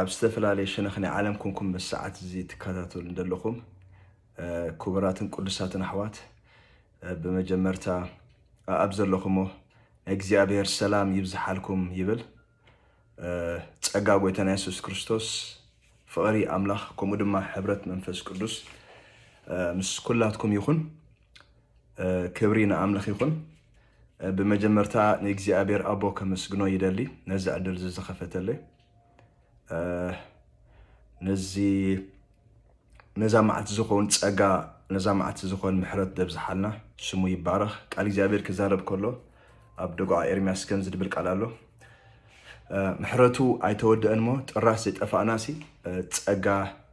ኣብ ዝተፈላለየ ሸነኽ ናይ ዓለም ኮንኩም ምስ ሰዓት እዚ ትከታተሉ ዘለኹም ክቡራትን ቅዱሳትን ኣሕዋት ብመጀመርታ ኣብ ዘለኹሞ ናይ እግዚኣብሔር ሰላም ይብዝሓልኩም ይብል ጸጋ ጎይታና የሱስ ክርስቶስ ፍቕሪ ኣምላኽ ከምኡ ድማ ሕብረት መንፈስ ቅዱስ ምስ ኩላትኩም ይኹን ክብሪ ንኣምልኽ ይኹን። ብመጀመርታ ንእግዚኣብሔር ኣቦ ከመስግኖ ይደሊ ነዚ ዕድል እዚ ዝኸፈተለይ ነዚ ነዛ መዓልቲ ዝኾን ጸጋ ነዛ መዓልቲ ዝኾን ምሕረት ደብዝሓልና ስሙ ይባረኽ። ቃል እግዚኣብሔር ክዛረብ ከሎ ኣብ ደጉዓ ኤርሚያስ ከም ዝድብል ቃል ኣሎ ምሕረቱ ኣይተወደአን ሞ ጥራስ ዘይጠፋእናሲ ጸጋ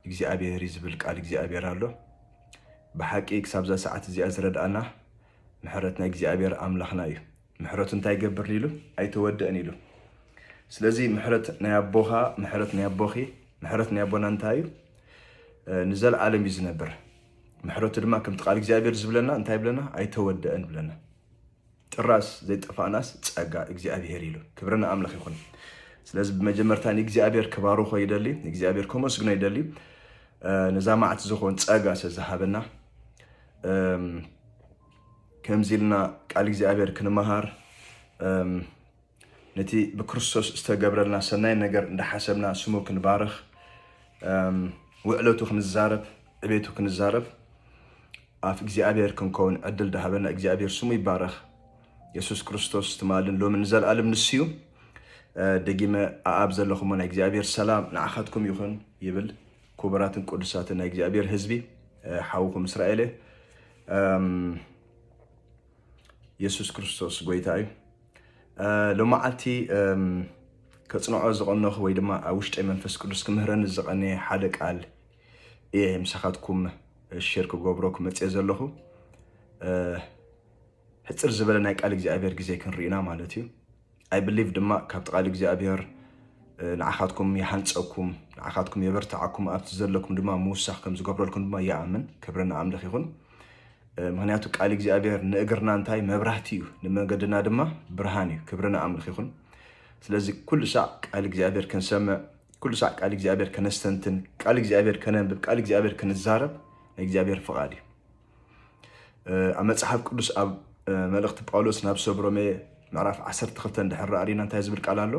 እግዚኣብሔር እዩ ዝብል ቃል እግዚኣብሔር ኣሎ። ብሓቂ ክሳብዛ ሰዓት እዚኣ ዝረድኣና ምሕረት ናይ እግዚኣብሔር ኣምላክና እዩ ምሕረቱ እንታይ ይገብር ኢሉ ኣይተወደእን ኢሉ ስለዚ ምሕረት ናይ ኣቦኻ ምሕረት ናይ ኣቦኺ ምሕረት ናይ ኣቦና እንታይ እዩ ንዘለዓለም እዩ ዝነብር ምሕረቱ ድማ ከምቲ ቃል እግዚኣብሔር ዝብለና እንታይ ብለና ኣይተወደአን ብለና ጥራዝ ዘይጠፋእናስ ጸጋ እግዚኣብሄር ኢሉ። ክብሪ ንኣምላኽ ይኹን። ስለዚ ብመጀመርታ ንእግዚኣብሄር ክባርኾ ይደሊ፣ ንእግዚኣብሄር ከመስግኖ ይደሊ ነዛ መዓልቲ ዝኾን ጸጋ ስለዝሃበና ከምዚ ኢልና ቃል እግዚኣብሄር ክንመሃር ነቲ ብክርስቶስ ዝተገብረልና ሰናይ ነገር እንዳሓሰብና ስሙ ክንባርኽ ውዕለቱ ክንዛረብ ዕቤቱ ክንዛረብ ኣፍ እግዚኣብሔር ክንከውን ዕድል ዳሃበና እግዚኣብሔር ስሙ ይባረኽ። የሱስ ክርስቶስ ትማልን ሎሚ ንዘለኣለም ንስዩ ደጊመ ኣኣብ ዘለኹሞ ናይ እግዚኣብሔር ሰላም ንዓኻትኩም ይኹን ይብል ክቡራትን ቅዱሳትን ናይ እግዚኣብሔር ህዝቢ ሓውኹም እስራኤል የሱስ ክርስቶስ ጎይታ እዩ ሎመዓልቲ ከፅንዖ ዝቐነኹ ወይ ድማ ኣብ ውሽጠይ መንፈስ ቅዱስ ክምህረኒ ዝቐነየ ሓደ ቃል እየ ምሳኻትኩም ሼር ክገብሮ ክመፅየ ዘለኹ ሕፅር ዝበለ ናይ ቃል እግዚኣብሔር ግዜ ክንርኢና ማለት እዩ I believe ድማ ካብቲ ቃል እግዚኣብሔር ንዓኻትኩም ይሃንጸኩም ንዓኻትኩም የበርትዓኩም ኣብቲ ዘለኩም ድማ ምውሳኽ ከም ዝገብረልኩም ድማ ይኣምን ክብሪ ንኣምልኽ ይኹን ምክንያቱ ቃል እግዚኣብሔር ንእግርና እንታይ መብራህቲ እዩ ንመንገድና ድማ ብርሃን እዩ ክብሪ ንኣምልኽ ይኹን ስለዚ ኩሉ ሳዕ ቃል እግዚኣብሔር ክንሰምዕ ኩሉ ሳዕ ቃል እግዚኣብሔር ከነስተንትን ቃል እግዚኣብሔር ከነንብብ ቃል እግዚኣብሔር ክንዛረብ ናይ እግዚኣብሔር ፍቓድ እዩ ኣብ መፅሓፍ ቅዱስ ኣብ መልእኽቲ ጳውሎስ ናብ ሰብ ሮሜ ምዕራፍ 12 እንድሕር ርኢና እንታይ ዝብል ቃል ኣሎ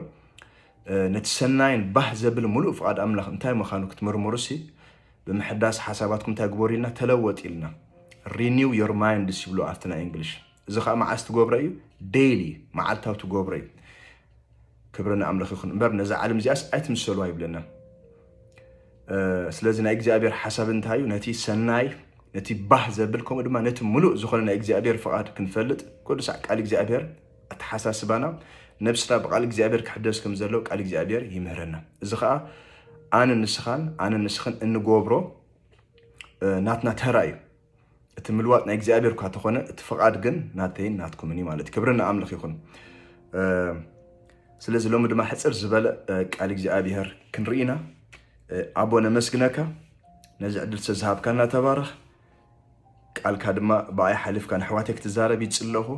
ነቲ ሰናይን ባህ ዘብል ሙሉእ ፍቓድ ኣምላኽ እንታይ ምዃኑ ክትምርምሩ ሲ ብምሕዳስ ሓሳባትኩም እንታይ ግበሩ ኢልና ተለወጥ ኢልና ሪኒው ዮር ማይንድስ ይብሉ ኣብቲ ናይ እንግሊሽ እዚ ከዓ መዓስ ትገብሮ እዩ ዴይሊ መዓልታዊ ትገብሮ እዩ ክብሪ ንኣምልኽ ይኹን እምበር ነዛ ዓለም እዚኣስ ኣይትምሰልዋ ይብለና ስለዚ ናይ እግዚኣብሔር ሓሳብ እንታይ እዩ ነቲ ሰናይ ነቲ ባህ ዘብል ከምኡ ድማ ነቲ ሙሉእ ዝኾነ ናይ እግዚኣብሔር ፍቓድ ክንፈልጥ ቅዱሳዕ ቃል እግዚኣብሔር ኣተሓሳስባና ነብስና ብቃል እግዚኣብሔር ክሕደስ ከም ዘለዎ ቃል እግዚኣብሔር ይምህረና እዚ ከዓ ኣነ ንስኻን ኣነ ንስኽን እንገብሮ ናትና ተራ እዩ እቲ ምልዋጥ ናይ እግዚኣብሔር እኳ ተኾነ እቲ ፍቓድ ግን ናተይን ናትኩምን እዩ ማለት ክብሪ ንኣምልኽ ይኹን ስለዚ ሎሚ ድማ ሕፅር ዝበለ ቃል እግዚኣብሔር ክንርኢና ኣቦ ነመስግነካ ነዚ ዕድል ዝተዝሃብካና ተባረኽ ቃልካ ድማ ብኣይ ሓሊፍካ ንኣሕዋተይ ክትዛረብ ይፅለኹ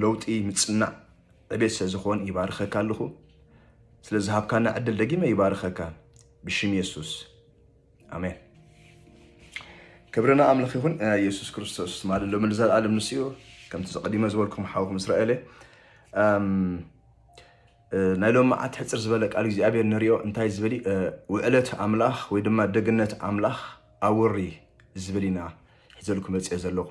ለውጢ ምፅናዕ ዕቤት ስለዝኾን ይባርኸካ ኣለኹ ስለዝሃብካና ዕድል ደጊመ ይባርኸካ ብሽም የሱስ ኣሜን ክብሪ ንኣምላኽ ይኹን የሱስ ክርስቶስ ትማሊ ሎሚ ንዘለኣለም ንሱ እዩ ከምቲ ዘቐዲመ ዝበልኩም ሓውኩም እስራኤለ ናይ ሎሚ መዓት ሕፅር ዝበለ ቃል እግዚኣብሔር ንሪኦ እንታይ ዝብል ውዕለት ኣምላኽ ወይ ድማ ደግነት ኣምላኽ ኣውሪ ዝብል ኢና ሒዘልኩም መፅኦ ዘለኹ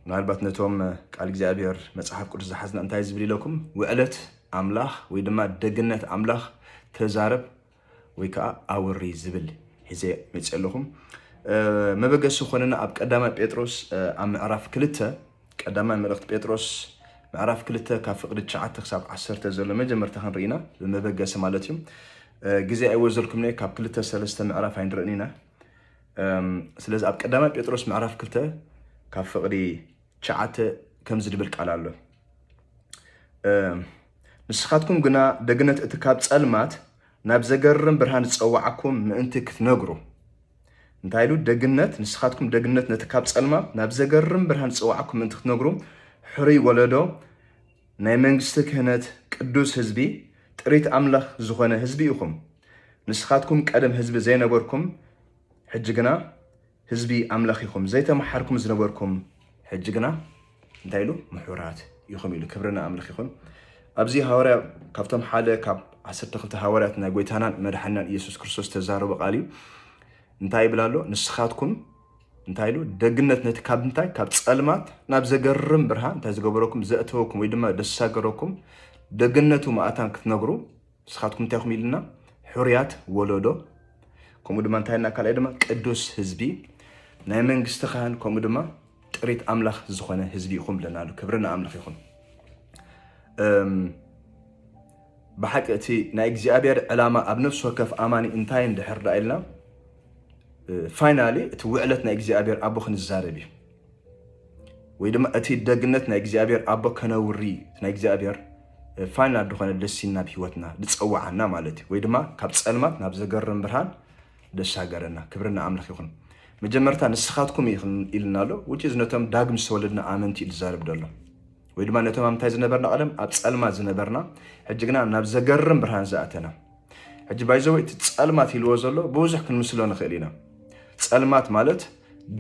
ምናልባት ነቶም ቃል እግዚኣብሔር መፅሓፍ ቅዱስ ዝሓዝና እንታይ ዝብል ኢለኩም ውዕለት ኣምላኽ ወይ ድማ ደግነት ኣምላኽ ተዛረብ ወይ ከዓ ኣውሪ ዝብል ሒዘ መፅእ ኣለኹም መበገሲ ዝኾነና ኣብ ቀዳማይ ጴጥሮስ ኣብ ምዕራፍ ክልተ ቀዳማይ መልእኽቲ ጴጥሮስ ምዕራፍ ክልተ ካብ ፍቅዲ ትሽዓተ ክሳብ ዓሰርተ ዘሎ መጀመርታ ክንርኢና ብመበገሲ ማለት እዩ ግዜ ኣይወዘልኩም ነ ካብ ክልተ ሰለስተ ምዕራፍ ኣይንርእን ኢና ስለዚ ኣብ ቀዳማይ ጴጥሮስ ምዕራፍ ክልተ ካብ ፍቅዲ ትሽዓተ ከምዚ ድብል ቃል ኣሎ ንስኻትኩም ግና ደግነት እቲ ካብ ጸልማት ናብ ዘገርም ብርሃን ዝጸዋዓኩም ምእንቲ ክትነግሩ እንታይ ኢሉ ደግነት ንስኻትኩም ደግነት ነቲ ካብ ጸልማት ናብ ዘገርም ብርሃን ዝጸዋዓኩም ምእንቲ ክትነግሩ ሕሩይ ወለዶ ናይ መንግስቲ ክህነት ቅዱስ ህዝቢ ጥሪት ኣምላኽ ዝኾነ ህዝቢ ኢኹም ንስኻትኩም ቀደም ህዝቢ ዘይነበርኩም ሕጂ ግና ህዝቢ ኣምላኽ ኢኹም ዘይተመሓርኩም ዝነበርኩም ሕጂ ግና እንታይ ኢሉ ምሑራት ኢኹም ኢሉ ክብሪ ንኣምልኽ ይኹን ኣብዚ ሃዋርያ ካብቶም ሓደ ካብ ዓሰርተ ክልተ ሃዋርያት ናይ ጎይታናን መድሓናን ኢየሱስ ክርስቶስ ተዛረበ ቃል እዩ እንታይ ይብል ኣሎ ንስኻትኩም እንታይ ኢሉ ደግነት ነቲ ካብ እንታይ ካብ ፀልማት ናብ ዘገርም ብርሃን እንታይ ዝገበረኩም ዘእተወኩም ወይ ድማ ደሳገረኩም ደግነቱ ማእታን ክትነግሩ ንስኻትኩም እንታይ ኢኹም ኢልና ሕሩያት ወለዶ ከምኡ ድማ እንታይ ና ካልኣይ ድማ ቅዱስ ህዝቢ ናይ መንግስቲ ካህን ከምኡ ድማ ጥሪት ኣምላኽ ዝኾነ ህዝቢ ኢኹም ብለና ኣሎ ክብሪ ንኣምላኽ ይኹን ብሓቂ እቲ ናይ እግዚኣብሔር ዕላማ ኣብ ነፍሲ ወከፍ ኣማኒ እንታይ እንድሕር ዳ ኢልና ፋይናሊ እቲ ውዕለት ናይ እግዚኣብሔር ኣቦ ክንዛረብ እዩ ወይ ድማ እቲ ደግነት ናይ እግዚኣብሔር ኣቦ ከነውሪ ናይ እግዚኣብሔር ፋይናል ዝኾነ ደሲን ናብ ህይወትና ዝፀዋዓና ማለት እዩ ወይ ድማ ካብ ፀልማት ናብ ዘገርም ብርሃን ደሻገረና ክብሪ ንኣምላኽ ይኹን መጀመርታ ንስኻትኩም ኢልና ኣሎ ውጭ ነቶም ዳግም ዝተወለድና ኣመንቲ እዩ ዝዛረብ ደሎ ወይ ድማ ነቶም ኣምታይ ዝነበርና ቀደም ኣብ ፀልማት ዝነበርና ሕጂ ግና ናብ ዘገርም ብርሃን ዝኣተና ሕጂ ባይዘወ እቲ ፀልማት ኢልዎ ዘሎ ብብዙሕ ክንምስሎ ንኽእል ኢና። ፀልማት ማለት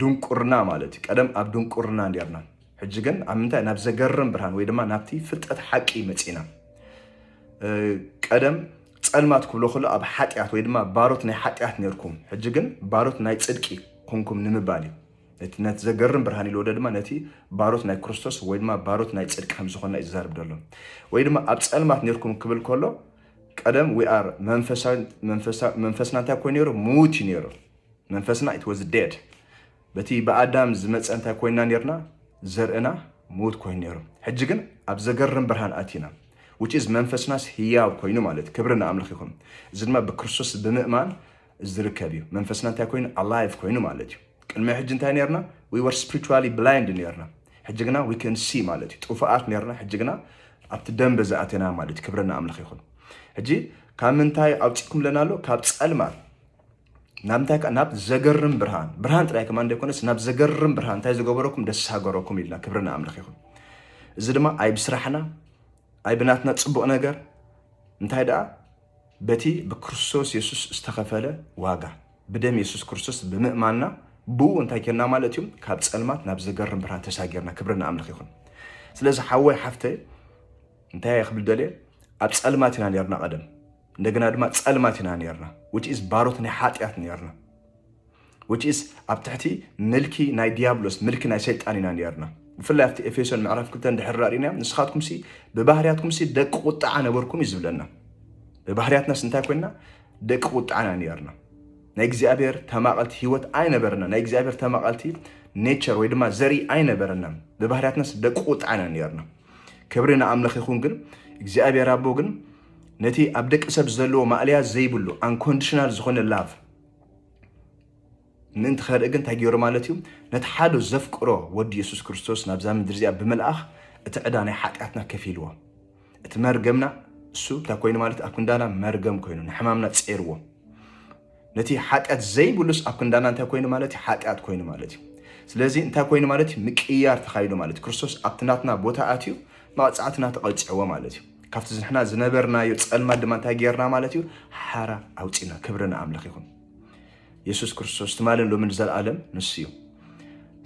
ድንቁርና ማለት እዩ። ቀደም ኣብ ድንቁርና እንዲርና ሕጂ ግን ኣብ ምንታይ ናብ ዘገርም ብርሃን ወይ ድማ ናብቲ ፍልጠት ሓቂ መፂና። ቀደም ፀልማት ክብሎ ከሎ ኣብ ሓጢኣት ወይ ድማ ባሮት ናይ ሓጢኣት ነርኩም፣ ሕጂ ግን ባሮት ናይ ፅድቂ ኮንኩም ንምባል እዩ። ነቲ ነቲ ዘገርም ብርሃን ኢልዎ ድማ ነቲ ባሮት ናይ ክርስቶስ ወይ ድማ ባሮት ናይ ፅድቂ ከም ዝኾንና እዩ ዝዛርብ ዘሎ። ወይ ድማ ኣብ ፀልማት ነርኩም ክብል ከሎ ቀደም we are መንፈስና እንታይ ኮይኑ ነይሩ ምዉት እዩ ነይሩ መንፈስና it was dead በቲ ብኣዳም ዝመፀ እንታይ ኮይና ነርና ዘርእና ምዉት ኮይኑ ነይሩ ሕጂ ግን ኣብ ዘገርም ብርሃን ኣቲና which is መንፈስናስ ህያው ኮይኑ ማለት ክብሪ ንኣምልኽ ይኹን እዚ ድማ ብክርስቶስ ብምእማን ዝርከብ እዩ መንፈስና እንታይ ኮይኑ ኣላይቭ ኮይኑ ማለት እዩ ቅድሚ ሕጂ እንታይ ነርና ዊ ወር ስፕሪቹዋሊ ብላይንድ ነርና ሕጂ ግና ዊ ከን ሲ ማለት እዩ ጥፉኣት ነርና ሕጂ ግና ኣብቲ ደንበ ዝኣተና ማለት እዩ ክብረና ኣምላኽ ይኹን ሕጂ ካብ ምንታይ ኣውፂእኩም ለና ኣሎ ካብ ፀልማት ናብ እንታይ ካብ ናብ ዘገርም ብርሃን ብርሃን ጥራይ ከማ እንደይኮነስ ናብ ዘገርም ብርሃን እንታይ ዝገበረኩም ደስ ሃገረኩም ኢልና ክብረና ኣምላኽ ይኹን እዚ ድማ ኣይ ብስራሕና ኣይ ብናትና ፅቡቕ ነገር እንታይ ደኣ በቲ ብክርስቶስ የሱስ ዝተኸፈለ ዋጋ፣ ብደም የሱስ ክርስቶስ ብምእማንና ብኡ እንታይ ኴንና ማለት እዩ? ካብ ጸልማት ናብ ዘገርም ብርሃን ተሳጊርና። ክብሪ ንኣምልኽ ይኹን። ስለዚ ሓወይ ሓፍተይ እንታይ ክብል ደልየ ኣብ ጸልማት ኢና ነርና ቀደም እንደገና ድማ ጸልማት ኢና ነርና ውች ኢዝ ባሮት ናይ ሓጢኣት ነርና which is ኣብ ትሕቲ ምልኪ ናይ ዲያብሎስ ምልኪ ናይ ሰይጣን ኢና ነርና ብፍላይ ኣብቲ ኤፌሶን ምዕራፍ ክልተ እንድሕር ራእና ንስኻትኩምሲ ብባህርያትኩምሲ ደቂ ቁጣዓ ነበርኩም እዩ ዝብለና ብባህርያትናስ እንታይ ኮይና ደቂ ቁጣዓና ነርና ናይ እግዚኣብሔር ተማቐልቲ ህይወት ኣይነበረና ናይ እግዚኣብሔር ተማቐልቲ ኔቸር ወይ ድማ ዘርኢ ኣይነበረና ብባህርያትናስ ደቂ ቁጣዓና ነርና ክብሪ ንኣምላኽ ይኹን ግን እግዚኣብሔር ኣቦ ግን ነቲ ኣብ ደቂ ሰብ ዘለዎ ማእለያ ዘይብሉ ኣንኮንዲሽናል ዝኾነ ላቭ ምእንቲ ኸርኢ ግን እንታይ ገይሩ ማለት እዩ ነቲ ሓደ ዘፍቅሮ ወዲ የሱስ ክርስቶስ ናብዛ ምድሪ እዚኣ ብምልኣኽ እቲ ዕዳ ናይ ሓጢኣትና ከፊልዎ እቲ መርገምና እሱ እንታይ ኮይኑ ማለት ኣብ ክንዳና መርገም ኮይኑ ንሕማምና ፀርዎ ነቲ ሓጢኣት ዘይብሉስ ኣብ ክንዳና እንታይ ኮይኑ ማለት እዩ ሓጢኣት ኮይኑ ማለት እዩ ስለዚ እንታይ ኮይኑ ማለት እዩ ምቅያር ተኻይዱ ማለት ክርስቶስ ኣብቲ ናትና ቦታ ኣትዩ መቕፃዕትና ተቐፅዕዎ ማለት እዩ ካብቲ ንሕና ዝነበርናዮ ፀልማት ድማ እንታይ ጌርና ማለት እዩ ሓራ ኣውፂና ክብሪ ንኣምላኽ ይኹን የሱስ ክርስቶስ ትማልን ሎሚ ንዘለኣለም ንሱ እዩ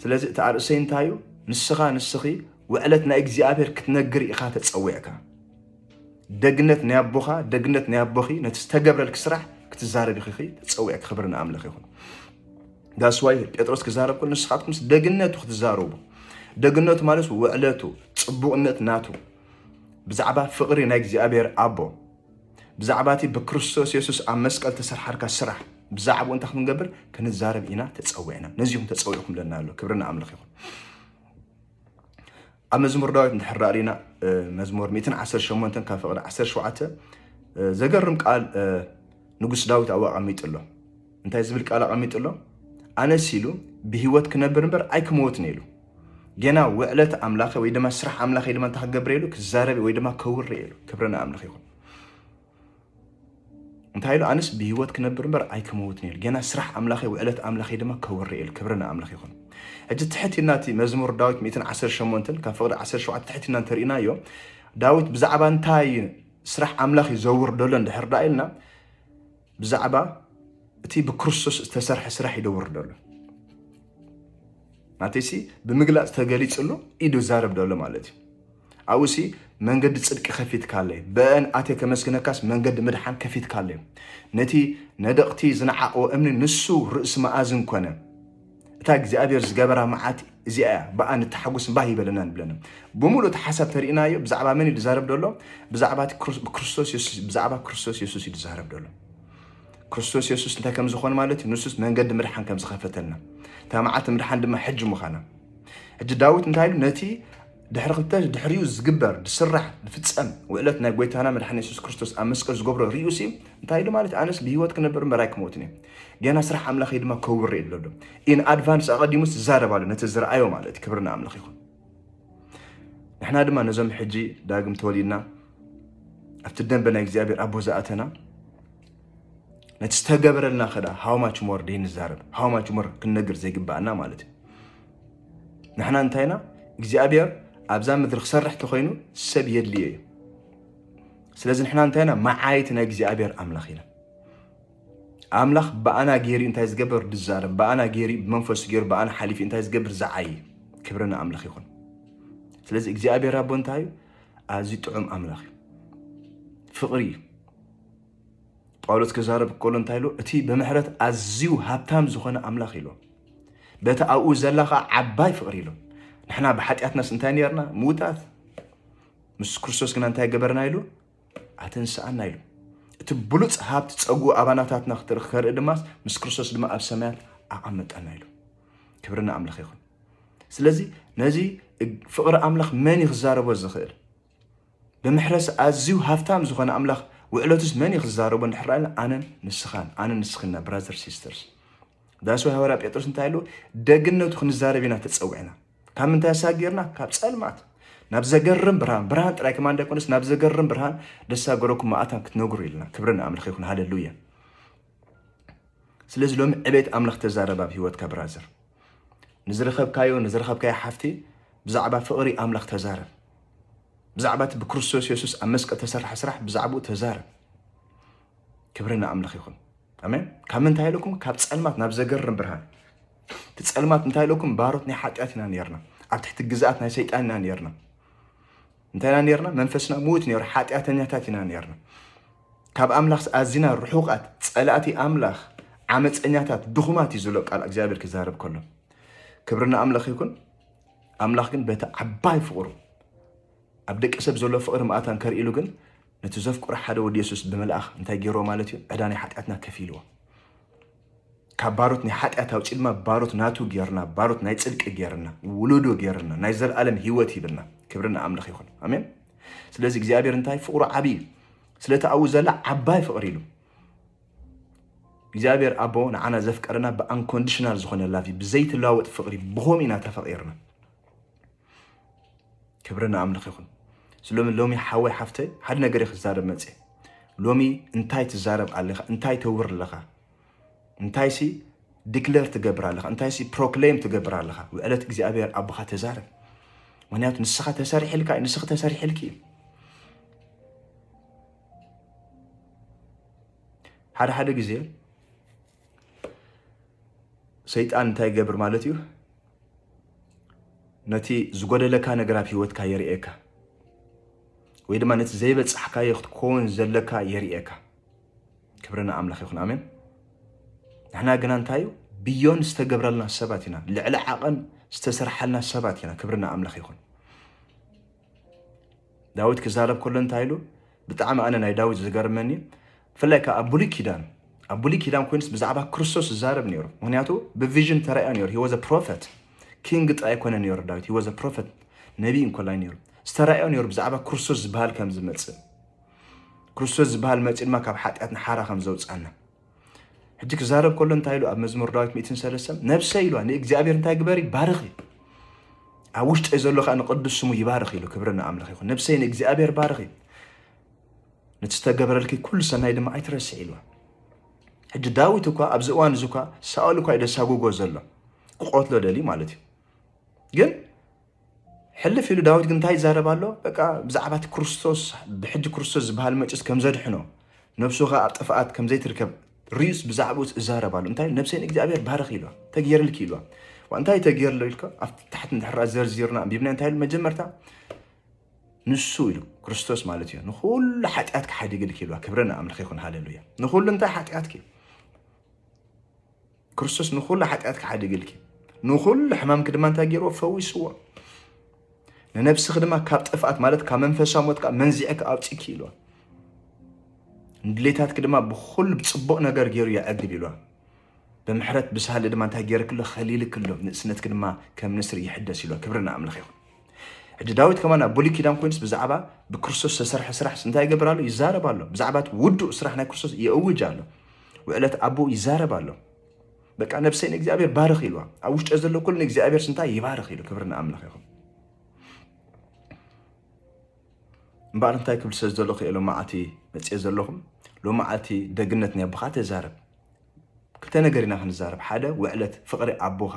ስለዚ እቲ ኣርእሰይ እንታይ እዩ ንስኻ ንስኺ ውዕለት ናይ እግዚኣብሔር ክትነግር ኢኻ ተፀዊዕካ ደግነት ናይ ኣቦኻ ደግነት ናይ ኣቦኺ ነቲ ዝተገብረልክ ስራሕ ክትዛረቢ ኺኺ ተፀዊዕክ ክብሪ ንኣምላኽ ይኹን ዳስዋይ ጴጥሮስ ክዛረብ ከሎ ንስኻትኩምስ ደግነቱ ክትዛረቡ ደግነቱ ማለት ውዕለቱ ፅቡቕነት ናቱ ብዛዕባ ፍቕሪ ናይ እግዚኣብሔር ኣቦ ብዛዕባ እቲ ብክርስቶስ የሱስ ኣብ መስቀል ተሰርሓልካ ስራሕ ብዛዕባኡ እንታይ ክንገብር ክንዛረብ ኢና ተፀዊዕና ነዚ ኹም ተፀዊዕኩም ለና ኣሎ ክብሪ ንኣምላኽ ይኹን ኣብ መዝሙር ዳዊት እንድሕር ሪና መዝሙር 118 ካብ ፍቕዲ 17 ዘገርም ቃል ንጉስ ዳዊት ኣብኡ ኣቐሚጡ ኣሎ እንታይ ዝብል ቃል ኣቐሚጡ ኣሎ? ኣነስ ኢሉ ብህይወት ክነብር እምበር ኣይክመወትን ኢሉ ጌና ውዕለት ኣምላኸ ወይ ድማ ስራሕ ኣምላኸ ድማ እንታይ ክገብር ኢሉ ክዛረብ ወይ ድማ ከውሪ ኢሉ ክብረ ንኣምላኽ ይኹን እንታይ ኢሉ ኣነስ ብህይወት ክነብር እምበር ኣይክመውትን ኢሉ ጌና ስራሕ ኣምላኸይ ውዕለት ኣምላኸይ ድማ ከውሪ ኢሉ ክብረ ንኣምላኽ ይኹን ሕጂ ትሕት ኢልና እቲ መዝሙር ዳዊት 118 ካብ ፍቕዲ 17 ትሕት ኢልና እንተርኢናዮ ዳዊት ብዛዕባ እንታይ ስራሕ ኣምላኽ እዩ ዘውርደሎ እንድሕር ዳ ኢልና ብዛዕባ እቲ ብክርስቶስ ዝተሰርሐ ስራሕ እዩ ደውር ደሎ ናተይሲ ብምግላፅ ተገሊፅሉ ኢዱ ዛረብ ደሎ ማለት እዩ ኣብኡሲ መንገዲ ፅድቂ ከፊትካለይ በአን ኣቴ ከመስግነካስ መንገዲ ምድሓን ከፊትካለይ ነቲ ነደቕቲ ዝነዓቕዎ እምኒ ንሱ ርእሲ መኣዝን ኮነ እታ እግዚኣብሔር ዝገበራ መዓት እዚኣ እያ ብኣ ንተሓጉስ ባህ ይበለና ንብለና ብምሉእ እቲ ሓሳብ ተርእናዮ ብዛዕባ መን እዩ ዝዛረብ ደሎ ብዛዕባ ክርስቶስ የሱስ ብዛዕባ ክርስቶስ የሱስ እዩ ዝዛረብ ደሎ ክርስቶስ የሱስ እንታይ ከም ዝኾን ማለት እዩ ንሱስ መንገዲ ምድሓን ከም ዝኸፈተልና እታ መዓልቲ ምድሓን ድማ ሕጂ ምዃና ሕጂ ዳዊት እንታይ ኢሉ ነቲ ድሕሪ ክልተ ድሕሪኡ ዝግበር ዝስራሕ ዝፍጸም ውዕለት ናይ ጎይታና መድሓኒ የሱስ ክርስቶስ ኣብ መስቀል ዝገብሮ ሪኡ ሲ እንታይ ኢሉ ማለት ኣነስ ብሂወት ክነብር እምበር ኣይክመውትን እየ ገና ስራሕ ኣምላኸይ ድማ ከውር እየ ብለሎ ኢን ኣድቫንስ ኣቐዲሙስ ዝዛረብ ኣሎ ነቲ ዝረኣዮ ማለት እዩ ክብርና ኣምላኽ ይኹን ንሕና ድማ ነዞም ሕጂ ዳግም ተወሊድና ኣብቲ ደንበ ናይ እግዚኣብሔር ኣቦ ዝኣተና ነቲ ዝተገበረልና ከዳ ሃውማች ሞር ደይንዛረብ ሃውማች ሞር ክንነግር ዘይግባኣና ማለት እዩ ንሕና እንታይ ኢና እግዚኣብሔር ኣብዛ ምድሪ ክሰርሕ ተኮይኑ ሰብ የድልዮ እዩ ስለዚ ንሕና እንታይ ኢና መዓይቲ ናይ እግዚኣብሔር ኣምላኽ ኢና ኣምላኽ ብኣና ገይሩ እንታይ ዝገበር ዝዛረብ ብኣና ገይሩ ብመንፈሱ ገይሩ ብኣና ሓሊፉ እንታይ ዝገብር ዝዓይ ክብሪ ንኣምላኽ ይኹን ስለዚ እግዚኣብሔር ኣቦ እንታይ እዩ ኣዝዩ ጥዑም ኣምላኽ እዩ ፍቕሪ እዩ ጳውሎስ ክዛረብ ከሎ እንታይ ኢሉ? እቲ ብምሕረት ኣዝዩ ሃብታም ዝኾነ ኣምላኽ ኢሉ በቲ ኣብኡ ዘላ ከዓ ዓባይ ፍቕሪ ኢሉ ንሕና ብሓጢኣትናስ እንታይ ነርና ምውታት ምስ ክርስቶስ ግና እንታይ ገበርና ኢሉ ኣተንስኣና ኢሉ እቲ ብሉፅ ሃብቲ ፀጉ ኣባናታትና ከርኢ ድማ ምስ ክርስቶስ ድማ ኣብ ሰማያት ኣቐመጠና ኢሉ ክብሪ ንኣምላኽ ይኹን ስለዚ ነዚ ፍቕሪ ኣምላኽ መን እዩ ክዛረቦ ዝኽእል ብምሕረስ ኣዝዩ ሃፍታም ዝኾነ ኣምላኽ ውዕለቱስ መን እዩ ክዛረቦ እንድሕር ኣለ ኣነን ንስኻን ኣነን ንስኽን ኢና ብራዘር ሲስተርስ ዳስ ወይ ሃዋርያ ጴጥሮስ እንታይ ኣሉ ደግነቱ ክንዛረብ ኢና ተጸዊዕና ካብ ምንታይ ኣሳጊርና ካብ ጸልማት ናብ ዘገርም ብርሃን ብርሃን ጥራይ ከማን ዳይኮነስ ናብ ዘገርም ብርሃን ደሳ ገረኩም ኣታን ክትነግሩ ኢልና ክብርን ኣምልኽ ይኹን ሃለሉያ ስለዚ ሎሚ ዕቤት ኣምላኽ ተዛረብ ኣብ ህይወትካ ብራዘር ንዝረኸብካዮ ንዝረኸብካዮ ሓፍቲ ብዛዕባ ፍቕሪ ኣምላኽ ተዛረብ ብዛዕባ እቲ ብክርስቶስ የሱስ ኣብ መስቀል ተሰርሐ ስራሕ ብዛዕባኡ ተዛረብ ክብሪ ንኣምላኽ ይኹን ኣሜን ካብ ምንታይ ኢለኩም ካብ ፀልማት ናብ ዘገርም ብርሃን እቲ ፀልማት እንታይ ኢለኩም ባሮት ናይ ሓጢኣት ኢና ነርና ኣብ ትሕቲ ግዝኣት ናይ ሰይጣን ኢና ነርና እንታይ ኢና ነርና? መንፈስና ምዉት ነይሩ፣ ሓጢኣተኛታት ኢና ነርና። ካብ ኣምላኽ ኣዚና ርሑቓት፣ ጸላእቲ ኣምላኽ፣ ዓመፀኛታት፣ ድኹማት እዩ ዝብሎ ቃል እግዚኣብሔር ክዛረብ ከሎ። ክብሪ ንኣምላኽ ይኩን። ኣምላኽ ግን በቲ ዓባይ ፍቕሩ ኣብ ደቂ ሰብ ዘሎ ፍቕሪ መኣታን ከርእሉ ግን ነቲ ዘፍቅሮ ሓደ ወዲ የሱስ ብምልኣኽ እንታይ ገይርዎ ማለት እዩ ዕዳ ናይ ሓጢኣትና ከፊልዎ ካብ ባሮት ናይ ሓጢኣት ኣውጺድማ ባሮት ናቱ ጌርና ባሮት ናይ ጽድቂ ጌርና ውሉዱ ጌርና ናይ ዘልኣለም ህይወት ሂብና ክብሪ ንኣምልኽ ይኹን ኣሜን ስለዚ እግዚኣብሔር እንታይ ፍቕሩ ዓብይ እዩ ስለቲ ኣብኡ ዘላ ዓባይ ፍቕሪ ኢሉ እግዚኣብሔር ኣቦ ንዓና ዘፍቀረና ብኣንኮንዲሽናል ዝኾነ ላቭ ብዘይትለዋወጥ ፍቕሪ ብኸምኡ ኢና ተፈቒርና ክብሪ ንኣምልኽ ይኹን ስሎሚ ሎሚ ሓወይ ሓፍተይ ሓደ ነገር እየ ክዛረብ መፅየ ሎሚ እንታይ ትዛረብ ኣለኻ እንታይ ተውር ኣለኻ ሲ ዲክለር ትገብር ኣለኻ ሲ ፕሮክሌም ትገብር ኣለኻ ውዕለት እግዚኣብሔር ኣቦኻ ተዛረብ ምክንያቱ ንስኻ ተሰሪሕልካ እዩ ንስኺ ተሰሪሕልኪ እዩ ሓደ ሓደ ግዜ ሰይጣን እንታይ ይገብር ማለት እዩ? ነቲ ዝጎደለካ ነገር ኣብ ሂወትካ የርእየካ ወይ ድማ ነቲ ዘይበፃሕካዮ ክትከውን ዘለካ የርእየካ። ክብሪ ንኣምላኽ ይኹን ኣሜን። ንሕና ግና እንታይ እዩ ብዮን ዝተገብረልና ሰባት ኢና፣ ልዕሊ ዓቐን ዝተሰርሓልና ሰባት ኢና። ክብሪ ንኣምላኽ ይኹን። ዳዊት ክዛረብ ከሎ እንታይ ኢሉ ብጣዕሚ ኣነ ናይ ዳዊት ዝገርመኒ ብፍላይ ከዓ ኣብ ብሉይ ኪዳን ኣብ ብሉይ ኪዳን ኮይኑስ ብዛዕባ ክርስቶስ ዝዛረብ ነይሩ ምክንያቱ ብቪዥን ተራእዮ ነይሩ ሂወዘ ፕሮፈት ኪንግ ጥራይ ኮነ ነይሩ ዳዊት ሂወዘ ፕሮፈት ነቢ እንኮላይ ነይሩ ዝተራእዮ ነይሩ ብዛዕባ ክርስቶስ ዝበሃል ከም ዝመፅእ ክርስቶስ ዝበሃል መፂኡ ድማ ካብ ሓጢኣት ንሓራ ከም ዘውፃና ሕጂ ክዛረብ ከሎ እንታይ ኢሉ ኣብ መዝሙር ዳዊት ሚእትን ሰለስተን ነብሰ ኢሉዋ ንእግዚኣብሔር እንታይ ግበሪ ባርኺ ኣብ ውሽጠይ ዘሎ ከዓ ንቅዱስ ስሙ ይባርኽ ኢሉ ክብሪ ንኣምላኽ ይኹን ነብሰይ ንእግዚኣብሔር ባርኺ ነቲ ዝተገብረልኪ ኩሉ ሰናይ ድማ ኣይትረስዕ ኢሉዋ ሕጂ ዳዊት እኳ ኣብዚ እዋን እዚ እኳ ሳኦል እኳ እዩ ደሳጉጎ ዘሎ ክቆትሎ ደልዩ ማለት እዩ ግን ሕልፍ ኢሉ ዳዊት ግን እንታይ ይዛረብ ኣሎ? በቃ ብዛዕባ እቲ ክርስቶስ ብሕጂ ክርስቶስ ዝበሃል መጪስ ከም ዘድሕኖ ነፍሱ ኸኣ ኣብ ጥፍኣት ከም ዘይትርከብ ርዩስ ብዛዕባኡ እዛረብ ኣሎ። እንታይ ነብሰይ ንእግዚኣብሔር ባርኽ ኢልዋ፣ ተገይርልኪ ኢልዋ። ዋ እንታይ ተገይርሎ ኢልካ ኣብ ታሕቲ እንድሕራ ዘርዚርና ኣንቢብና እንታይ ኢሉ መጀመርታ ንሱ ኢሉ ክርስቶስ ማለት እዩ ንኹሉ ሓጢኣትኪ ሓዲግልኪ ኢልዋ። ክብሪ ንኣምላኽ ይኹን ሃሌሉያ። ንኹሉ እንታይ ሓጢኣትኪ ክርስቶስ ንኩሉ ሓጢኣትኪ ሓዲግልኪ ንኩሉ ሕማምኪ ድማ እንታይ ገይርዎ ፈዊስዎ ንነብስኺ ድማ ካብ ጥፍኣት ማለት ካብ መንፈሳዊ ሞት ከዓ መንዚዐ ኣውፅኪ ኢልዋ ንድሌታትኪ ድማ ብኩሉ ብፅቡቅ ነገር ገይሩ የዕግብ ኢልዋ ብምሕረት ብሳህሊ ድማ እንታይ ገይርክሎ ከሊልክሎ ንእስነትኪ ድማ ከም ንስሪ ይሕደስ ኢልዋ ክብሪ ንኣምላኽ ይኹን ሕጂ ዳዊት ከማን ኣብ ብሉይ ኪዳን ኮይኑስ ብዛዕባ ብክርስቶስ ዝተሰርሐ ስራሕስ እንታይ ይገብር ኣሎ? ይዛረብ ኣሎ። ብዛዕባ እቲ ውዱእ ስራሕ ናይ ክርስቶስ የእውጅ ኣሎ። ውዕለት ኣቦ ይዛረብ ኣሎ። በቃ ነብሰይ ንእግዚኣብሔር ባርኽ ኢልዋ ኣብ ውሽጢ ዘሎ ኩሉ ንእግዚኣብሔር ስንታይ ይባርኽ ኢሉ ክብሪ ንኣምላኽ ይኹን እምበኣር እንታይ ክብል ስለ ዘለኹ ኢሎም መዓልቲ መፅኤ ዘለኹም ሎሚ መዓልቲ ደግነት ናይ ኣቦኻ ተዛረብ ክልተ ነገር ኢና ክንዛረብ ሓደ ውዕለት ፍቅሪ ኣቦካ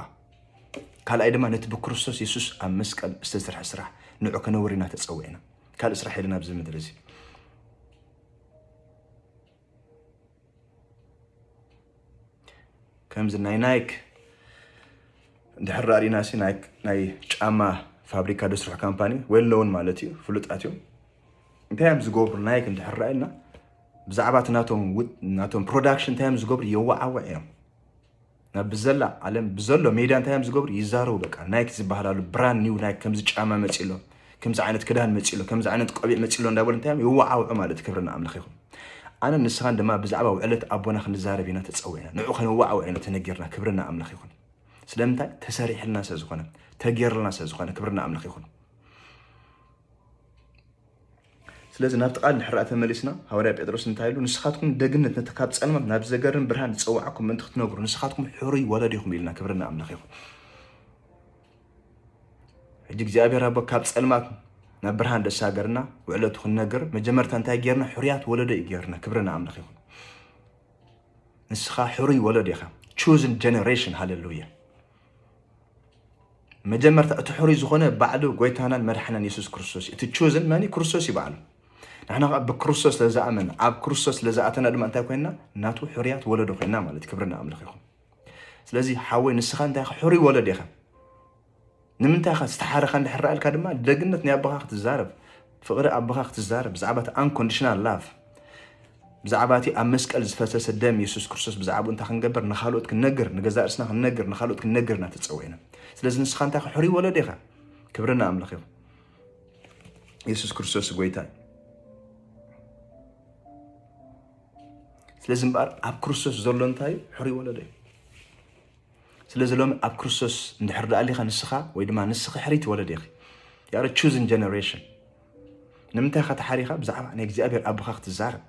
ካልኣይ ድማ ነቲ ብክርስቶስ የሱስ ኣብ መስቀል ዝተሰርሐ ስራሕ ንዑ ከነውሪ ኢና ተጸዊዕና ካልእ ስራሕ የለን ኣብዚ ምድሪ እዚ ከምዚ ናይ ናይክ እንድሕር ራእሪና ሲ ናይ ጫማ ፋብሪካ ደስርሑ ካምፓኒ ወይ ኣለውን ማለት እዩ ፍሉጣት እዮም እንታይ እዮም ዝገብሩ ናይክ እንድሕር ራእና ብዛዕባ እቲ ናቶም ውጥ ናቶም ፕሮዳክሽን እንታይ እዮም ዝገብሩ የዋዓውዕ እዮም ናብ ብዘላ ዓለም ብዘሎ ሜድያ እንታይ እዮም ዝገብሩ ይዛረቡ በቃ ናይክ ዝበሃላሉ ብራንድ ኒው ናይክ ከምዚ ጫማ መፂ ኣሎ ከምዚ ዓይነት ክዳን መፂ ኣሎ ከምዚ ዓይነት ቆቢዕ መፂ ኣሎ እንዳበሉ እንታይ እዮም የዋዓውዑ ማለት ክብሪ ንኣምላኽ ይኹን ኣነ ንስኻን ድማ ብዛዕባ ውዕለት ኣቦና ክንዛረብ ኢና ተፀዊዕና ንዑ ከነዋዓውዕ ኢና ተነጊርና ክብሪ ንኣምላኽ ይኹን ስለምንታይ ተሰሪሕልና ስለ ዝኾነ ተጌርልና ስለ ዝኾነ ክብሪ ንኣምላኽ ይኹን ስለዚ ናብቲ ቃል ድሕሪ ደኣ ተመሊስና ሃዋርያ ጴጥሮስ እንታይ ኢሉ ንስኻትኩም ደግነት ነቲ ካብ ጸልማት ናብ ዘገርም ብርሃን ዝጸዋዓኩም ምእንቲ ክትነግሩ ንስኻትኩም ሕሩይ ወለዶ ኢኹም ኢልና ክብሪ ንኣምላኽ ይኹን። ሕጂ እግዚኣብሔር ኣቦ ካብ ጸልማት ናብ ብርሃን ደሳገርና ውዕለቱ ክንነግር መጀመርታ እንታይ ጌርና ሕሩያት ወለዶ እዩ ጌርና ክብሪ ንኣምላኽ ይኹን። ንስኻ ሕሩይ ወለዶ ኢኻ ቹዝን ጀነሬሽን ሃለሉያ መጀመርታ እቲ ሕሩይ ዝኾነ ባዕሉ ጎይታናን መድሓናን የሱስ ክርስቶስ እዩ እቲ ቹዝን መን ክርስቶስ እዩ ባዕሉ ንሕና ከዓ ብክርስቶስ ስለዝኣመና ኣብ ክርስቶስ ስለዝኣተና ድማ እንታይ ኮይንና ናቱ ሕሩያት ወለዶ ኮይንና ማለት ክብሪ ንኣምላኽ ይኹን ስለዚ ሓወይ ንስኻ እንታይ ኢኻ ሕሩይ ወለድ ኢኻ ንምንታይ ኢኻ ዝተሓረኻ እንድሕር ድማ ደግነት ናይ ኣቦኻ ክትዛረብ ፍቅሪ ኣቦኻ ክትዛረብ ብዛዕባ እቲ ኣንኮንድሽናል ላቭ ብዛዕባ እቲ ኣብ መስቀል ዝፈሰሰ ደም የሱስ ክርስቶስ ብዛዕባኡ እንታይ ክንገብር ንካልኦት ክንነግር ንገዛእ ርስና ክንነግር ንካልኦት ክንነግር ኢና ተጸዊዕና ስለዚ ንስኻ እንታይ ሕሩይ ወለዶ ኢኻ ክብሪ ንኣምላኽ ይኹን የሱስ ክርስቶስ ጎይታ እዩ ስለዚ እምበኣር ኣብ ክርስቶስ ዘሎ እንታይ እዩ ሕሩይ ወለዶ እዩ ስለዚ ሎሚ ኣብ ክርስቶስ እንድሕር ደኣ ኣሊኻ ንስኻ ወይ ድማ ንስኺ ሕሪት ወለድ ኢኺ ያረ ቹዝን ጀነሬሽን ንምንታይ ኢኻ ተሓሪኻ ብዛዕባ ናይ እግዚኣብሔር ኣቦኻ ክትዛረብ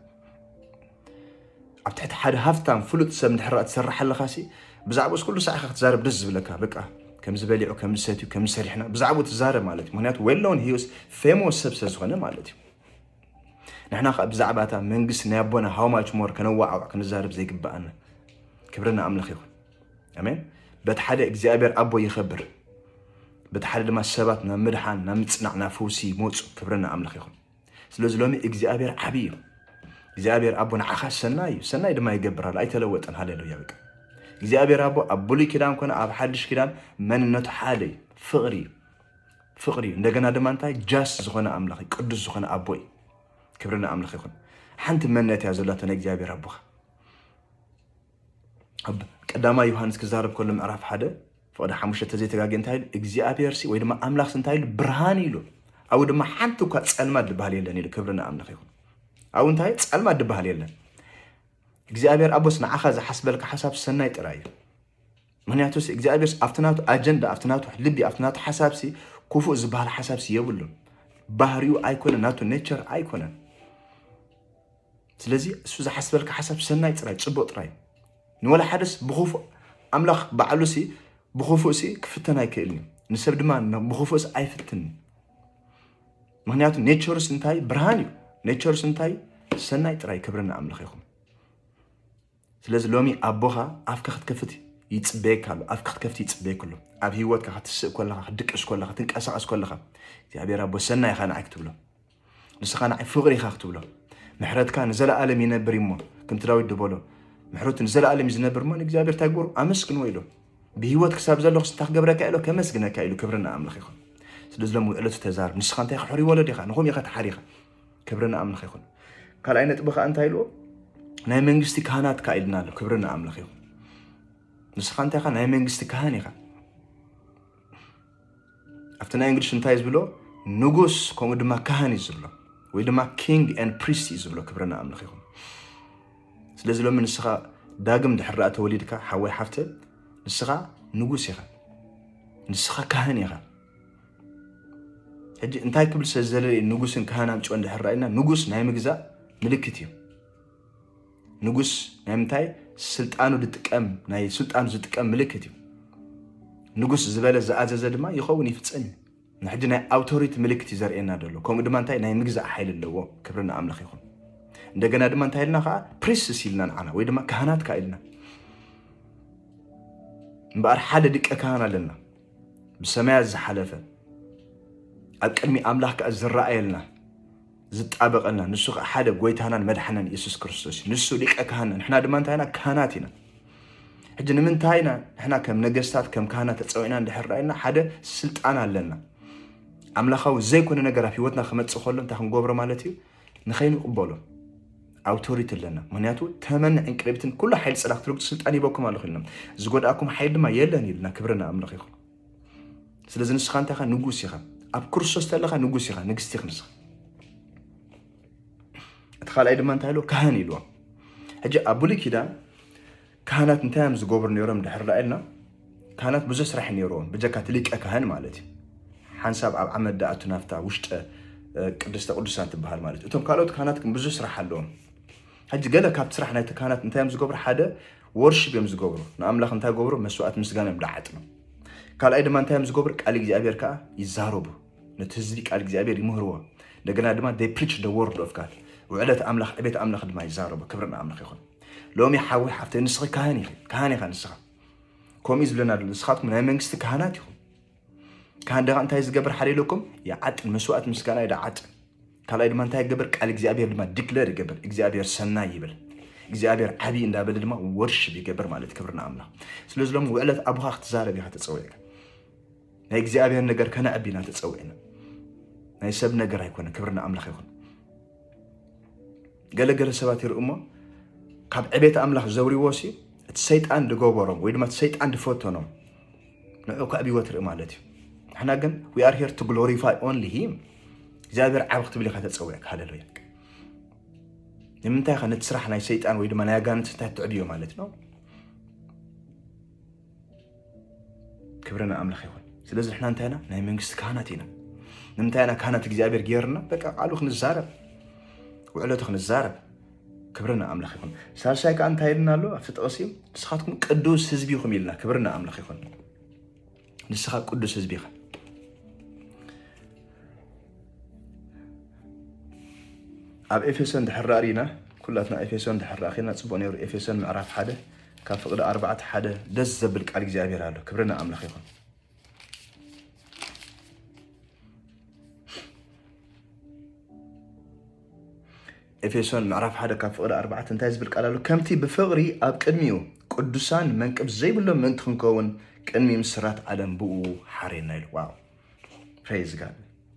ኣብ ትሕቲ ሓደ ሃፍታም ፍሉጥ ሰብ እንድሕር ደኣ ትሰርሕ ኣለኻ ሲ ብዛዕባኡስ ኩሉ ሳዕ ኢኻ ክትዛረብ ደስ ዝብለካ በቃ ከምዚ በሊዑ ከምዚ ሰትዩ ከምዚ ሰሪሕና ብዛዕባኡ ትዛረብ ማለት እዩ ምክንያቱ ዌል ኖውን ሂስ ፌሞስ ሰብ ስለ ዝኾነ ማለት እዩ ንሕና ከኣ ብዛዕባ እታ መንግስቲ ናይ ኣቦና ሃው ማች ሞር ከነዋዓውዕ ክንዛረብ ዘይግበኣና ክብሪ ንኣምላኽ ይኹን ኣሜን በቲ ሓደ እግዚኣብሔር ኣቦ ይኸብር በቲ ሓደ ድማ ሰባት ናብ ምድሓን ናብ ምጽናዕ ናብ ፈውሲ ይመፁ ክብሪ ንኣምላኽ ይኹን ስለዚ ሎሚ እግዚኣብሔር ዓብዪ እዩ እግዚኣብሔር ኣቦ ንዓኻ ሰናይ እዩ ሰናይ ድማ ይገብር ኣሎ ኣይተለወጠን ሃሌሉያ በቃ እግዚኣብሔር ኣቦ ኣብ ብሉይ ኪዳን ኮነ ኣብ ሓድሽ ኪዳን መንነቱ ሓደ እዩ ፍቕሪ እዩ ፍቅሪ እዩ እንደገና ድማ እንታይ ጃስ ዝኮነ ኣምላኽ እዩ ቅዱስ ዝኮነ ኣቦ እዩ ክብሪ ንኣምላኽ ይኹን ሓንቲ መነት እያ ዘላቶ ናይ እግዚኣብሔር ኣቦኻ ኣብ ቀዳማይ ዮሃንስ ክዛረብ ከሎ ምዕራፍ ሓደ ፍቅዲ ሓሙሽተ ተዘይተጋገ እንታይ ኢሉ እግዚኣብሔር ሲ ወይ ድማ ኣምላኽ ሲ እንታይ ኢሉ ብርሃን ኢሉ ኣብኡ ድማ ሓንቲ እኳ ፀልማ ድበሃል የለን ኢሉ ክብሪ ንኣምላኽ ይኹን ኣብኡ እንታይ ፀልማ ድበሃል የለን እግዚኣብሔር ኣቦስ ንዓኻ ዝሓስበልካ ሓሳብ ሰናይ ጥራይ እዩ ምክንያቱስ እግዚኣብሔርስ ኣብቲ ናቱ ኣጀንዳ ኣብቲ ናቱ ልቢ ኣብቲ ናቱ ሓሳብሲ ክፉእ ዝበሃል ሓሳብሲ የብሉን። ባህሪኡ ኣይኮነን፣ ናቱ ኔቸር ኣይኮነን። ስለዚ እሱ ዝሓስበልካ ሓሳብ ሰናይ ጥራይ ፅቡቅ ጥራይ ንወላ ሓደስ ብክፉእ ኣምላኽ ባዕሉሲ ብክፉእሲ ክፍተን ኣይክእልን እዩ ንሰብ ድማ ብክፉእስ ኣይፍትን ምክንያቱ ኔቸሩስ እንታይ ብርሃን እዩ ኔቸሩስ እንታይ ሰናይ ጥራይ ክብሪ ንኣምላኽ ይኹን ስለዚ ሎሚ ኣቦኻ ኣፍካ ክትከፍት ይጽበየካ ኣሎ ኣፍካ ክትከፍት ይጽበየካ ኣሎ ኣብ ህይወትካ ክትስእ ኮለኻ ክትድቅስ ኮለኻ ትንቀሳቐስ ኮለኻ እግዚኣብሔር ኣቦ ሰናይ ኢኻ ንዓይ ክትብሎ ንስኻ ንዓይ ፍቕሪ ኢኻ ክትብሎ ምሕረትካ ንዘለኣለም ይነብር እሞ ከምቲ ዳዊት ድበሎ ምሕረቱ ንዘለኣለም እዩ ዝነብር እሞ ንእግዚኣብሔር እንታይ ግበሩ ኣመስግንዎ ኢሉ ብህይወት ክሳብ ዘለኹ ስንታ ክገብረካ ኢሎ ከመስግነካ ኢሉ ክብሪ ንኣምላኽ ይኹን ስለዚ ሎም ዕለቱ ተዛርብ ንስኻ እንታይ ክሕሪ ወለድ ኢኻ ንኹም ኢኻ ተሓሪኻ ክብሪ ንኣምላኽ ይኹን። ካልኣይ ነጥቢ ከዓ እንታይ ኢልዎ? ናይ መንግስቲ ካህናት ከዓ ኢልና ኣሎ። ክብሪ ንኣምላኽ ይኹን። ንስኻ እንታይ ኢኻ? ናይ መንግስቲ ካህን ኢኻ። ኣብቲ ናይ እንግሊሽ እንታይ ዝብሎ ንጉስ ከምኡ ድማ ካህን እዩ ዝብሎ ወይ ድማ ኪንግ ን ፕሪስት እዩ ዝብሎ። ክብሪ ንኣምላኽ ይኹን። ስለዚ ሎሚ ንስኻ ዳግም ድሕር ዳኣ ተወሊድካ ሓወይ ሓፍተ ንስኻ ንጉስ ኢኻ፣ ንስኻ ካህን ኢኻ። ሕጂ እንታይ ክብል ስለ ዝደለየ ንጉስን ካህናን ጭኦ እንድሕር ራእና ንጉስ ናይ ምግዛእ ምልክት እዩ ንጉስ ናይ ምንታይ ስልጣኑ ዝጥቀም ናይ ስልጣኑ ዝጥቀም ምልክት እዩ ንጉስ ዝበለ ዝኣዘዘ ድማ ይኸውን ይፍፀም እዩ ንሕጂ ናይ ኣውቶሪቲ ምልክት እዩ ዘርእየና ዘሎ ከምኡ ድማ እንታይ ናይ ምግዛእ ሓይሊ ኣለዎ ክብሪ ንኣምላኽ ይኹን እንደገና ድማ እንታይ ኢልና ከዓ ፕሪስስ ኢልና ንዓና ወይ ድማ ካህናት ከዓ ኢልና እምበኣር ሓደ ድቀ ካህን ኣለና ብሰማያት ዝሓለፈ ኣብ ቅድሚ ኣምላኽ ከዓ ዝረኣየልና ዝጣበቀና ንሱ ከዓ ሓደ ጎይታናን መድሓናን የሱስ ክርስቶስ እዩ ንሱ ሊቀ ካህና ንሕና ድማ እንታይ ኢና ካህናት ኢና ሕጂ ንምንታይ ኢና ንሕና ከም ነገስታት ከም ካህናት ተፀዊዕና እንድሕር ዳኢልና ሓደ ስልጣን ኣለና ኣምላኻዊ ዘይኮነ ነገር ኣብ ሂወትና ክመፅእ ከሎ እንታይ ክንገብሮ ማለት እዩ ንኸይንቕበሎ ኣውቶሪቲ ኣለና ምክንያቱ ተመን ዕንቅርቢትን ኩሉ ሓይሊ ፅላ ክትርግፁ ስልጣን ይበኩም ኣለኹ ኢልና ዝጎድኣኩም ሓይሊ ድማ የለን ኢልና ክብረ ንኣምላኽ ይኹን ስለዚ ንስኻ እንታይ ኢኻ ንጉስ ኢኻ ኣብ ክርስቶስ ተለኻ ንጉስ ኢኻ ንግስቲ ኢኽ ንስኻ እቲ ካልኣይ ድማ እንታይ ኢሉ ካህን ኢልዎ ሕጂ ኣብ ብሉይ ኪዳን ካህናት እንታይ እዮም ዝገብሩ ነይሮም ድሕር ዳ ኢልና ካህናት ብዙሕ ስራሕ ነይሮም ብጀካ እቲ ሊቀ ካህን ማለት እዩ ሓንሳብ ኣብ ዓመት ዳኣቱ ናፍታ ውሽጠ ቅድስተ ቅዱሳን ትበሃል ማለት እቶም ካልኦት ካህናት ግን ብዙሕ ስራሕ ኣለዎም ሕጂ ገለ ካብቲ ስራሕ ናይቲ ካህናት እንታይ እዮም ዝገብሩ ሓደ ወርሽብ እዮም ዝገብሩ ንኣምላኽ እንታይ ገብሩ መስዋእት ምስጋና እዮም ዳዓጥኑ ካልኣይ ድማ እንታይ እዮም ዝገብሩ ቃል እግዚኣብሔር ከዓ ይዛረቡ ነቲ ህዝቢ ቃል እግዚኣብሔር ይምህርዎ እንደገና ድማ ፕሪች ደ ወርድ ኦፍ ጋድ ውዕለት ኣምላኽ ዕቤት ኣምላኽ ድማ ይዛረቡ ክብሪ ንኣምላኽ ይኹን ሎሚ ሓዊ ሓፍተ ንስኺ ካህን ኢኺ ካህን ኢኻ ንስኻ ከምኡ እዩ ዝብለና ዘሎ ንስኻትኩም ናይ መንግስቲ ካህናት ኢኹም ካህን ደኻ እንታይ ዝገብር ሓደ ኢለኩም ይዓጥን መስዋእት ምስጋና ይደዓጥን ካልኣይ ድማ እንታይ ይገብር ቃል እግዚኣብሔር ድማ ዲክለር ይገብር እግዚኣብሔር ሰናይ ይብል እግዚኣብሔር ዓብዪ እንዳበለ ድማ ወርሽብ ይገብር ማለት ክብርና ኣምላኽ ስለዚ ሎም ውዕለት ኣቦኻ ክትዛረብ ኢኻ ተፀዊዕካ ናይ እግዚኣብሔር ነገር ከነዕቢ ኢና ተፀዊዕና ናይ ሰብ ነገር ኣይኮነ ክብሪ ንኣምላኽ ይኹን ገለገለ ሰባት ይርኢ እሞ ካብ ዕቤት ኣምላኽ ዘውሪዎ ሲ እቲ ሰይጣን ዝገበሮም ወይ ድማ እቲ ሰይጣን ዝፈተኖም ንዑ ከዕብዎ ትርኢ ማለት እዩ ንሕና ግን ዊ ኣር ሄር ቱ ግሎሪፋይ ኦንሊ ሂም እግዚኣብሔር ዓብ ክትብል ኢካ ተፀዊዕካ ሃለሉያ ንምንታይ ከ ነቲ ስራሕ ናይ ሰይጣን ወይ ድማ ናይ ኣጋንንቲ እንታይ ትዕብዮ ማለት ነው ክብሪ ንኣምላኽ ይኹን። ስለዚ ንሕና እንታይ ኢና? ናይ መንግስቲ ካህናት ኢና። ንምንታይ ኢና ካህናት እግዚኣብሔር ገይርና? በቃ ቃሉ ክንዛረብ፣ ውዕለቱ ክንዛረብ። ክብሪ ንኣምላኽ ይኹን። ሳልሳይ ከዓ እንታይ ኢልና ኣሎ ኣብቲ ጥቕሲ? ንስኻትኩም ቅዱስ ህዝቢ ኢኹም ኢልና። ክብሪ ንኣምላኽ ይኹን። ንስኻ ቅዱስ ህዝቢ ኢኻ። ኣብ ኤፌሶን ድሕር ርኢና ኩላትና ኤፌሶን ድሕር ርኢና ፅቡቅ ነይሩ። ኤፌሶን ምዕራፍ ሓደ ካብ ፍቅዲ ኣርባዕተ ሓደ ደስ ዘብል ቃል እግዚኣብሔር ኣሎ ክብሪ ንኣምላኽ ይኹን ኤፌሶን ምዕራፍ ሓደ ካብ ፍቅዲ ኣርባዕተ እንታይ ዝብል ቃል ኣሎ ከምቲ ብፍቅሪ ኣብ ቅድሚኡ ቅዱሳን መንቅብ ዘይብሎም ምእንቲ ክንከውን ቅድሚ ምስራት ዓለም ብኡ ሓሬና ኢሉ ዋው ፕሬዝ ጋድ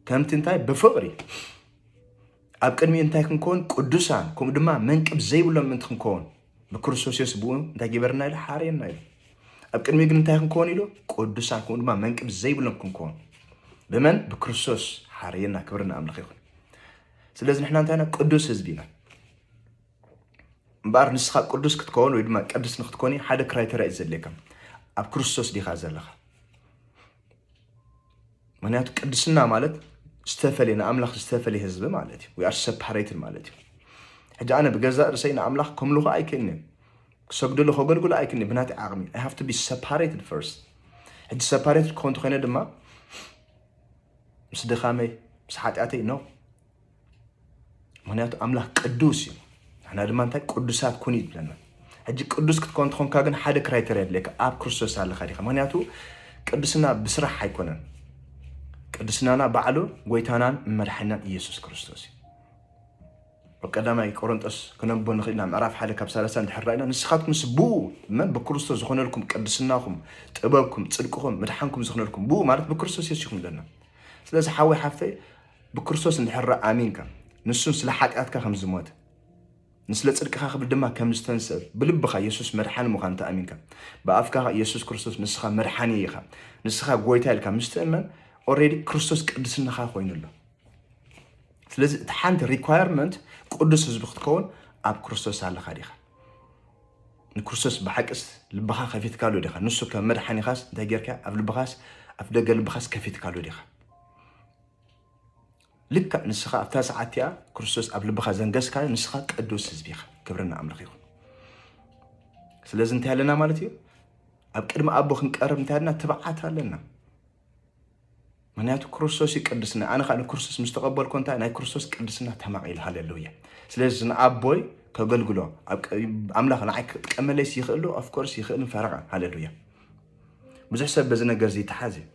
ከምቲ እንታይ ብፍቅሪ ኣብ ቅድሚ እንታይ ክንከውን ቅዱሳን ከምኡ ድማ መንቅብ ዘይብሎም ምእንቲ ክንከውን ንክርስቶስ የሱስ ብኡ እንታይ ገበርና ኢሉ ሓርየና ኢሉ ኣብ ቅድሚ ግን እንታይ ክንከውን ኢሉ ቅዱሳን ከምኡ ድማ መንቅብ ዘይብሎም ክንከውን ብመን ብክርስቶስ ሓርየና ክብሪ ንኣምላኽ ይኹን ስለዚ ንሕና እንታይ ኢና ቅዱስ ህዝቢ ኢና እምበኣር ንስኻ ቅዱስ ክትከውን ወይ ድማ ቅዱስ ንክትኮን ሓደ ክራይተሪያ እዩ ዘድልየካ ኣብ ክርስቶስ ዲኻ ዘለኻ ምክንያቱ ቅድስና ማለት ዝተፈለየ ንኣምላኽ ዝተፈለየ ህዝቢ ማለት እዩ ዊኣር ሰፓሬትን ማለት እዩ ሕጂ ኣነ ብገዛእ ርእሰይ ንኣምላኽ ከምልኹ ኣይክእልን እየ ክሰግድሉ ከገልግሉ ኣይክእልን ብናተይ ዓቕሚ ኣይ ሃቭ ቱ ቢ ሰፓሬትድ ፈርስት ሕጂ ሰፓሬትድ ክኾን ተኮይነ ድማ ምስ ድኻመይ ምስ ሓጢኣተይ ነው ምክንያቱ ኣምላኽ ቅዱስ እዩ ንሕና ድማ እንታይ ቅዱሳት ኩን እዩ ዝብለና ሕጂ ቅዱስ ክትኮን ትኾንካ ግን ሓደ ክራይተር የድልየካ ኣብ ክርስቶስ ኣለካ ዲካ ምክንያቱ ቅዱስና ብስራሕ ኣይኮነን ቅዱስናና ባዕሉ ጎይታናን መድሓናን ኢየሱስ ክርስቶስ እዩ ኣብ ቀዳማይ ቆሮንጦስ ክነቦ ንኽእልና ምዕራፍ ሓደ ካብ ሰላሳ እንድሕር ራእና ንስኻትኩም ስ ብኡ መን ብክርስቶስ ዝኾነልኩም ቅድስናኹም ጥበብኩም ፅድቅኹም ምድሓንኩም ዝኾነልኩም ብኡ ማለት ብክርስቶስ የሱኹም ኣለና ስለዚ ሓወይ ሓፍተይ ብክርስቶስ እንድሕር ኣሚንካ ንሱን ስለ ሓጢኣትካ ከም ዝሞተ ንስለ ጽድቅኻ ክብል ድማ ከም ዝተንስእ ብልብኻ የሱስ መድሓኒ ምዃኑ ተኣሚንካ ብኣፍካ የሱስ ክርስቶስ ንስኻ መድሓኒ ኢኻ ንስኻ ጎይታ ኢልካ ምስ ትእመን ኦልሬዲ ክርስቶስ ቅድስናኻ ኮይኑ ኣሎ ስለዚ እቲ ሓንቲ ሪኳየርመንት ቅዱስ ህዝቢ ክትከውን ኣብ ክርስቶስ ኣለካ ዲኻ ንክርስቶስ ብሓቂስ ልብኻ ከፊትካሉ ዲኻ ንሱ ከም መድሓኒኻስ እንታይ ጌርካ ኣብ ልብኻስ ኣብ ደገ ልብኻስ ከፊትካሉ ዲኻ ልክዕ ንስኻ ኣብታ ሰዓት እቲኣ ክርስቶስ ኣብ ልብኻ ዘንገስካዮ ንስኻ ቅዱስ ህዝቢ ኢኻ። ክብሪ ንኣምላኽ ይኹን። ስለዚ እንታይ ኣለና ማለት እዩ? ኣብ ቅድሚ ኣቦ ክንቀርብ እንታይ ኣለና? ትብዓት ኣለና። ምክንያቱ ክርስቶስ እዩ ቅድስና። ኣነ ከዓ ንክርስቶስ ምስ ተቐበልኩ እንታይ ናይ ክርስቶስ ቅድስና ተማቒሉ ሃለሉያ። ስለዚ ንኣቦይ ከገልግሎ ኣብ ቀ- ኣምላኽ ንዓይ ክጥቀመለይስ ይኽእሉ ኦፍኮርስ ይኽእልን ፈረቓን ሃለሉያ። ብዙሕ ሰብ በዚ ነገር እዚ ይተሓዝ እዩ።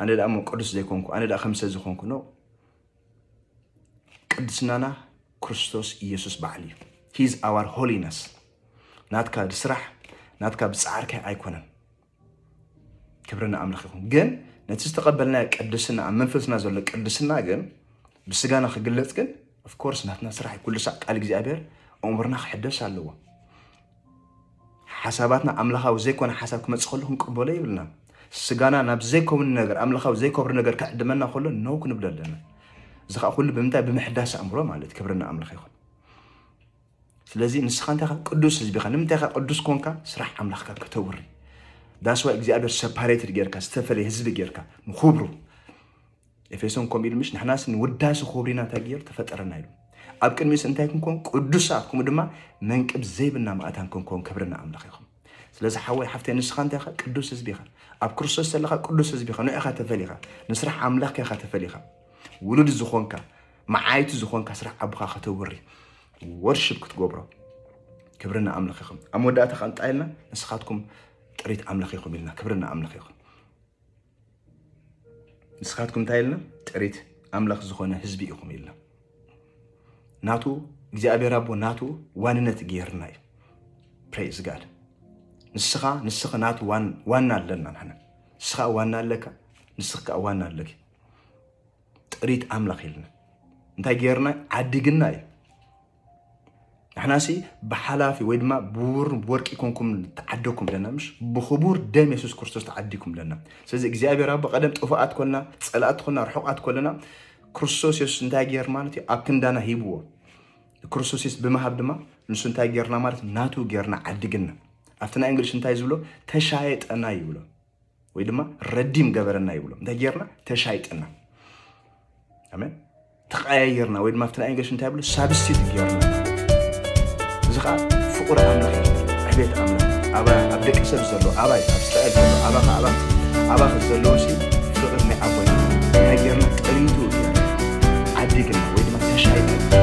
ኣነ ደኣ እሞ ቅዱስ ዘይኮንኩ ኣነ ደኣ ከምሰ ዝኾንኩ ኖ ቅድስናና ክርስቶስ ኢየሱስ በዓል እዩ ሂዝ ኣዋር ሆሊነስ ናትካ ብስራሕ ናትካ ብፃዕርካ ኣይኮነን ክብርና ኣምላኽ ይኹን ግን ነቲ ዝተቐበልናዮ ቅድስና ኣብ መንፈስና ዘሎ ቅድስና ግን ብስጋና ክግለፅ ግን ኦፍኮርስ ናትና ስራሕ ኩሉ ሳዕ ቃል እግዚኣብሔር እምርና ክሕደስ ኣለዎ ሓሳባትና ኣምላኻዊ ዘይኮነ ሓሳብ ክመጽእ ከሎ ክንቅበሎ የብልናን። ስጋና ናብ ዘይከውን ነገር ኣምላኻዊ ዘይከብር ነገር ክዕድመና ከሎ ነው ክንብሎ ኣለና። እዚ ከዓ ኩሉ ብምንታይ ብምሕዳስ ኣእምሮ ማለት ክብርና ኣምላኽ ይኹን። ስለዚ ንስኻ እንታይ ኻ ቅዱስ ህዝቢ ኻ ንምንታይ ኻ ቅዱስ ኮንካ ስራሕ ኣምላኽካ ከተውሪ ዳስዋ እግዚኣብሔር ሰፓሬትድ ጌርካ ዝተፈለየ ህዝቢ ጌርካ ንኹብሩ ኤፌሶን ከምኡ ኢሉ ምሽ ንሕናስ ንውዳሲ ክብሩ ኢና እንታይ ገይሩ ተፈጠረና ኢሉ ኣብ ቅድሚኡስ እንታይ ክንኮን ቅዱሳት ከምኡ ድማ መንቅብ ዘይብና ማእታን ክንኮን ክብሪ ንኣምላኽ ይኹን ስለዚ ሓወይ ሓፍተይ ንስኻ እንታይ ኢኻ ቅዱስ ህዝቢ ኢኻ ኣብ ክርስቶስ ዘለኻ ቅዱስ ህዝቢ ኢኻ ንዕኻ ተፈሊኻ ንስራሕ ኣምላኽ ኢኻ ተፈሊኻ ውሉድ ዝኾንካ መዓይቲ ዝኾንካ ስራሕ ኣቦኻ ከተውሪ ወርሽብ ክትገብሮ ክብሪ ንኣምላኽ ይኹን ኣብ መወዳእታ ከንጣይልና ንስኻትኩም ጥሪት ኣምላኽ ይኹም ኢልና ክብሪ ንኣምላኽ ይኹን ንስኻትኩም እንታይ ኢልና ጥሪት ኣምላኽ ዝኾነ ህዝቢ ኢኹም ኢልና ናቱ እግዚኣብሔር ኣቦ ናቱ ዋንነት ገይርና እዩ ፕሬዝ ጋድ ንስኻ ንስኽ ናቱ ዋና ኣለና ንሕና ንስኻ ዋና ኣለካ ንስኽ ከዓ ዋና ኣለኪ ጥሪት ኣምላኽ ኢልና እንታይ ገይርና ዓዲግና እዩ ንሕናሲ ብሓላፊ ወይ ድማ ብውር ወርቂ ኮንኩም ተዓደኩም ለና ምሽ ብክቡር ደም የሱስ ክርስቶስ ተዓዲኩም ለና ስለዚ እግዚኣብሔር ኣቦ ቀደም ጥፉኣት ኮልና ፀላእቲ ኮልና ርሑቃት ኮለና ክርስቶስ የሱስ እንታይ ገይር ማለት እዩ ኣብ ክንዳና ሂብዎ ክርስቶስ የሱስ ብምሃብ ድማ ንሱ እንታይ ገይርና ማለት ናቱ ገይርና ዓዲግና ኣብቲ ናይ እንግሊሽ እንታይ ዝብሎ ተሻየጠና ይብሎ ወይ ድማ ረዲም ገበረና ይብሎ እንታይ ጌርና ተሻይጥና ኣሜን ተቀያየርና ወይ ድማ ኣብቲ ናይ እንግሊሽ እንታይ ብሎ ሳብስቲት ጌርና እዚ ከዓ ፍቁር ኣምላኽ ዕቤት ኣምላኽ ኣብ ደቂ ሰብ ዘሎ ኣባይ ኣብ እስራኤል ዘሎ ኣባኻ ኣባኽ ኣባኽ ዘለዎ ሲ ፍቅሪ ናይ ኣቦና እንታይ ጌርና ጠሪቱ ዓዲግና ወይ ድማ ተሻይጥና